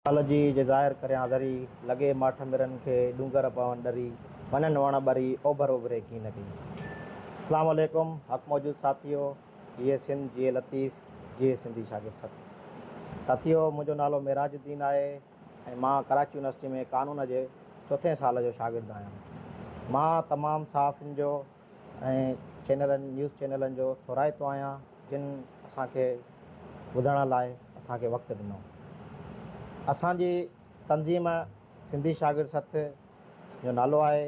ڪالهه جي جي ظاهر ڪريان ذري، لڳي ماٺ مرن کي ڏونگر پون ڏري، وڃن وڻ ٻري، اوڀر اوڀري ڪين ڪئي. اسلام عليڪم حق موجود ساٿيو جيئي سنڌ جيئي لطيف جيئي سنڌي شاگرد سٿ ساٿيو منهنجو نالو معراج الدين آهي ۽ مان ڪراچي يونيورسٽي ۾ قانون جي چوٿين سال جو شاگرد آهيان مان تمام صحافين جو ۽ چينلن نيوز چينلن جو ٿورائتو آهيان جن اسان کي ٻڌڻ لاء اسان کي وقت ڏنو. اسان جي تنظيم سنڌي شاگرد سٿ جو نالو آهي.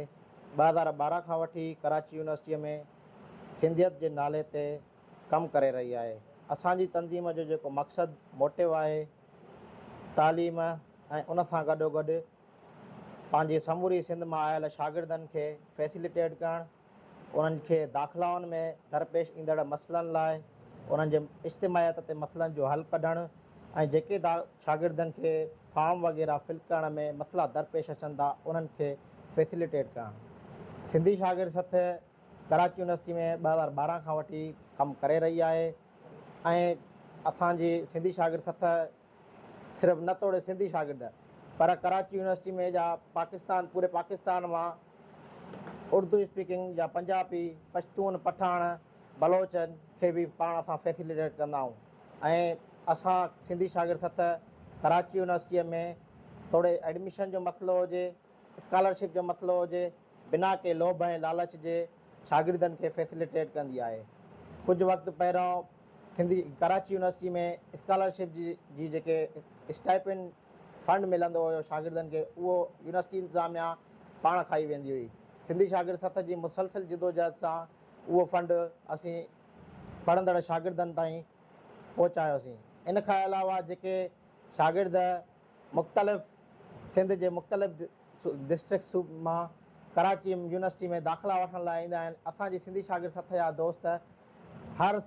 ٻه هزار ٻارهن کان وٺي ڪراچي يونيورسٽيء ۾ سنڌيت جي نالي تي ڪم ڪري رهي آهي. اسان جي تنظيم جو جيڪو مقصد موٽو آهي تعليم ۽ ان سان گڏوگڏ پنهنجي سموري سنڌ مان آيل شاگردن کي فيسيليٽيٽ ڪرڻ، انهن کي داخلائن ۾ درپيش ايندڙ مسئلن لاء انهن جي اجتماعيت تي مسئلن جو حل ڪڍڻ ۽ جيڪي شاگردن کي فارم وغيره فل ڪرڻ ۾ مسئلا درپيش اچن ٿا انهن کي فيسيليٽيٽ ڪرڻ سنڌي شاگرد سٿ ڪراچي يونيورسٽي ۾ ٻه هزار ٻارهن کان وٺي ڪم ڪري رهي آهي ۽ اسان جي سنڌي شاگرد سٿ صرف نه توڙي سنڌي شاگرد پر ڪراچي يونيورسٽي ۾ جا پاڪستان پوري پاڪستان مان اردو اسپيڪنگ جا پنجابي، پشتون، پٺاڻ، بلوچن کي به پاڻ سان فيسيليٽيٽ ڪندا آهيون ۽ اسان سنڌي شاگرد سٿ ڪراچي يونيورسٽي ۾ توڙي ايڊميشن جو مسئلو هجي اسڪالرشپ جو مسئلو هجي بنا ڪنهن لوڀ ۽ لالچ جي شاگردن کي فيسيليٽيٽ ڪندي آهي ڪجهه وقت پهريون سنڌي ڪراچي يونيورسٽي ۾ اسڪالرشپ جي جي جيڪي اسٽائپنڊ فنڊ ملندو هيو شاگردن کي اهو يونيورسٽي انتظاميا پاڻ کائي ويندي هئي سنڌي شاگرد سٿ جي مسلسل جدوجهد سان اهو فنڊ اسين پڙهندڙ شاگردن تائين پهچايوسين ان کان علاوه جيڪي شاگرد مختلف سنڌ جي مختلف ڊسٽرڪٽس مان ڪراچي يونيورسٽي ۾ داخلا وٺڻ لاء ايندا آهن اسان جي سنڌي شاگرد سٿ جا دوست هر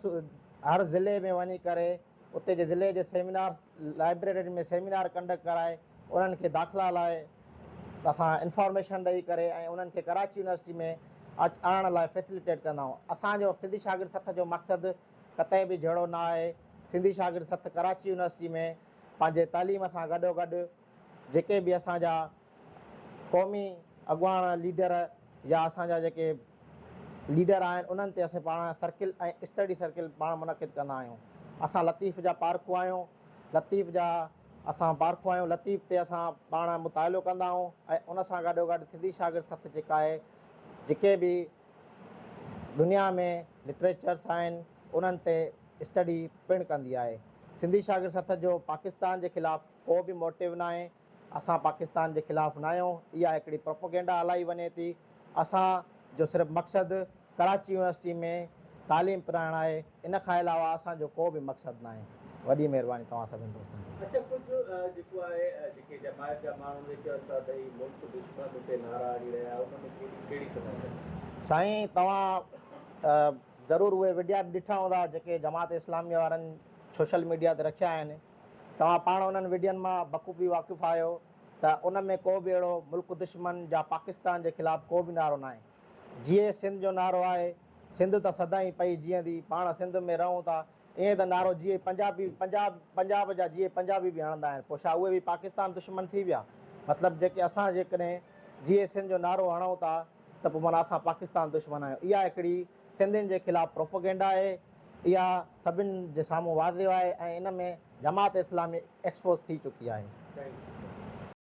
هر ضلعي ۾ وڃي ڪري اتي جي ضلعي جي سيمينار لائبريرين ۾ سيمينار ڪنڊڪٽ ڪرائي انهن کي داخلا لاء اسان انفارميشن ڏئي ڪري ۽ انهن کي ڪراچي يونيورسٽي ۾ آڻڻ لاء فيسليٽيٽ ڪندا آهيون اسان جو سنڌي شاگرد سٿ جو مقصد قطعي به جهڙو نه آهي. سنڌي شاگرد سٿ ڪراچي يونيورسٽي ۾ پنهنجي تعليم سان گڏوگڏ جيڪي به اسان جا قومي اڳواڻ ليڊر يا اسان جا جيڪي ليڊر آهن انهن تي اسين پاڻ سرڪل ۽ اسٽڊي سرڪل پاڻ منعقد ڪندا آهيون. اسان لطيف جا پارکو آهيون، لطيف جا اسان پارکو آهيون، لطيف تي اسان پاڻ مطالعو ڪندا آهيون ۽ ان سان گڏوگڏ سنڌي شاگرد سٿ جيڪا آهي جيڪي به دنيا ۾ لٽريچرس آهن انهن تي اسٽڊي پڻ ڪندي آهي. سنڌي شاگرد سٿ جو پاڪستان جي خلاف ڪو به موٽو ناهي، اسان پاڪستان جي خلاف ناهيون، اها هڪڙي پروپوگينڊا هلائي وڃي ٿي، اسان جو صرف مقصد ڪراچي يونيورسٽي ۾ تعليم پرائڻ آهي، ان کان علاوه اسان جو ڪو به مقصد ناهي. وڏي مهرباني توهان سڀني دوستن جي. اچا ڪجهه جيڪو آهي جيڪي جماعت جا ماڻهو اهي چون ٿا ته هي ملڪ دشمن اتي نعرا هڻي رهيا ان ۾ ڪهڙي ڪهڙي سمجهه اٿس. سائين توهان ضرور اهي وڊيا به ڏٺا هوندا جيڪي جماعت اسلامي وارن سوشل ميڊيا تي رکيا آهن توهان پاڻ انهن وڊين مان بخوبي واقف آهيو ته ان ۾ ڪو به اهڙو ملڪ دشمن جا پاڪستان جي خلاف ڪو به نعرو ناهي. جيئي سنڌ جو نعرو آهي سنڌ ته سدائين پئي جيئندي پاڻ سنڌ ۾ رهون ٿا ائين ته نعرو جيئي پنجابي پنجاب پنجاب جا جيئي پنجابي به هڻندا آهن پوء ڇا اهي به پاڪستان دشمن ٿي ويا مطلب جيڪي اسان جيڪڏهن جيئي سنڌ جو نعرو هڻون ٿا ته پوء معنيٰ اسان پاڪستان دشمن آهيون اها هڪڙي سنڌين جي خلاف پروپوگينڊا آهي اها سڀن جي سامهون واضح آهي ۽ ان ۾ جماعت اسلامي ايڪسپوز ٿي چڪي آهي.